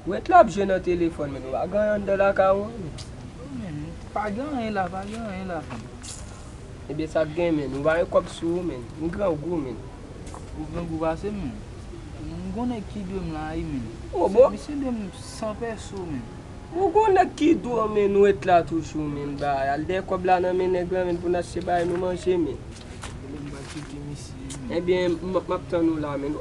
Ret la ap jwe nan telefòn men nou pa gen anyen anndan lakay ou menm. Ou menm pa gen anyen la pa gen anyen la menm. Ebyen sak gen menn ou pa gen kòb sou ou menn ou grangou menn. Ou grangou pase m menn. M gon nèg ki dwe m la wi menn. Misye dwe m san pèso menn. Ou gon nèg ki dwe w menn ou ret la toujou menn ba al dèyè kòb la nan men nèg la menn pou n achte bay nou manje menn. Ebyen m ap tann ou la menn.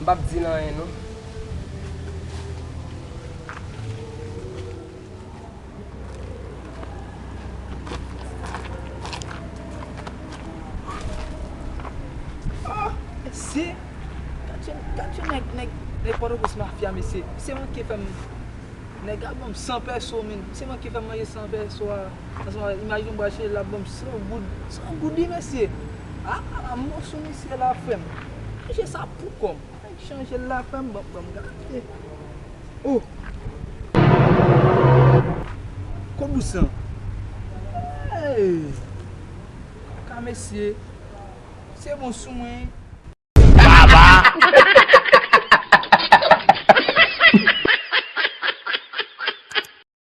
M pap di l anyen non. Ohh mesye Gad yon nèg nèg pòtoprens mafya mesye Misye manke fè m Nèg la ban m 100 pèso menn Misye manke fè m manje 100 pèso a Ansanm avèk imajine m pral chèche l la ap ban m 100 goud 100 goud wi mesye. Aah mwen sou misye la frèm. Chanje sa pou kòm. Mwen chanjel la frèm banm gade oh. Ko bous lan eeh. Ka mesye se bon sou mwen.